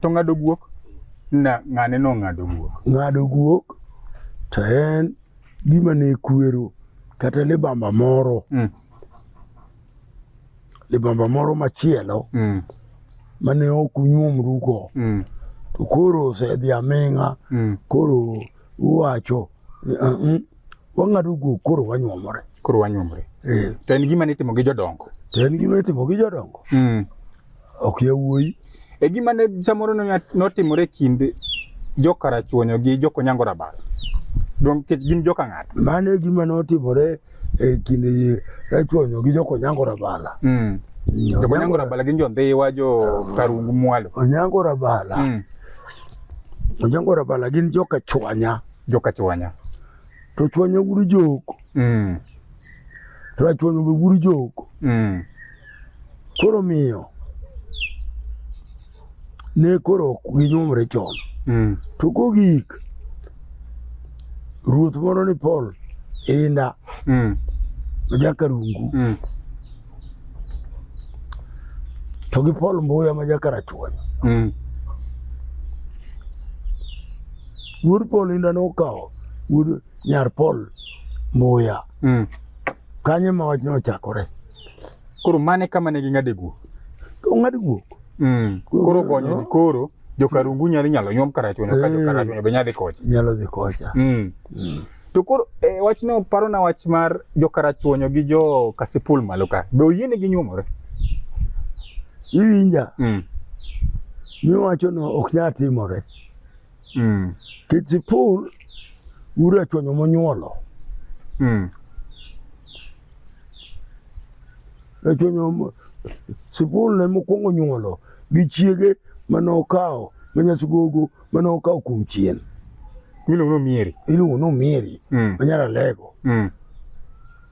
to ng'ado guok na ng'ane no ng'ado guok ng'ado guok to en gima ne kwero kata libamba moro mm. libamba moro machielo mm. mane ok unyuomru go mm. to koro osedhi aming'a mm. koro uwacho uh, uh, wang'ado guok koro wanyuomore koro wanyuomore eh. to en gima nitimo gi jodongo to en gima nitimo gi jodongo mm. ok yawuoyi e gima ne samoro notimore e kind jokarachuonyo gi jokonyango rabal don kech gin joka ng'ato mano e gima notimore e kind rachuonyo gi jokonyango rabala mm. jokonyango rabala gin jondhiwa jo karungu mwalo onyango rabala mm. onyango rabala gin joka chwanya joka chwanya to chwanya wuod joko mm. to achwanya be wuod joko mm. koro miyo ne koro ok ginyuomre chon mm. to kogik ruoth moro ni Paul inda mm. jaka rungu mm. to gi Paul Mbuya ma jakarachuonyo mm. wuod Paul inda nokawo wuod nyar Paul Mbuya mm. kanye ma wachno ochakore koro mane kama ne ging'ade guok ong'ad guok mm. koro gonyo no. koro jokarungu nyalo nyalo nyuom karachuonyo ka eh. jokarachunyo be nyadhi kocha nyalo dhi kocha mm. Mm. To koro e, wachno parona wach mar jo Karachuonyo gi jo Kasipul malo ka. Be oyienegi nyuomore? Iwinja, Mm. miwachono ok nyal timore. Mm. Kisipul ura chonyo monyuolo. Mm. Rachonyo mo- Sipul ne mokwongo nyuolo gi chiege mane okawo ma Nyasugogo mane okawo kuom chien miluongo ni omieri iluongo ni omieri mm. ma nyara lego mm.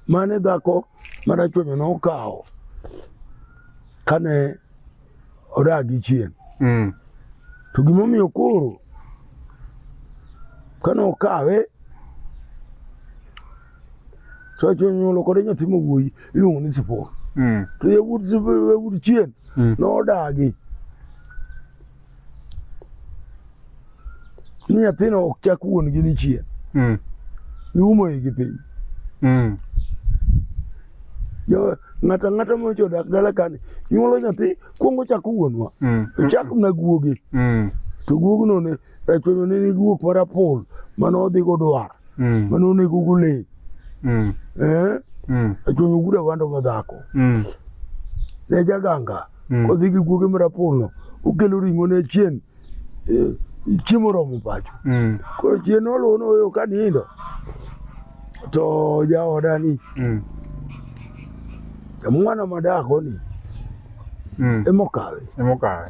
mane dhako marachuonyo nokawo kane odagi chien mm. to gimomiyo koro kane okawe to achonyuolo kode nyathi mawuoyi iluongo ni sipor mm. to yawuot chien mm. nodagi ni nyathino ok chak wuon gi ni chien mm. iumo igi piny mm. ng'ata ng'ata mocho dak dala kani nyuolo nyathi kuongo chako wuonwa mm. ochak na guogi mm. to guogno ne echwenyo ne ni guok mar apol mane odhi godwar mm. mane onego gule mm. eh? mm. echwenyo guda wando madhako mm. ne jaganga Mm. Kodhi gi guoge marapurno okelo ring'o ne chien eh, chiemo romo pacho. Mm. Koro chien noluwo noweyo ka nindo to jaoda ni mm. mwana madako ni mm. emokawe emokawe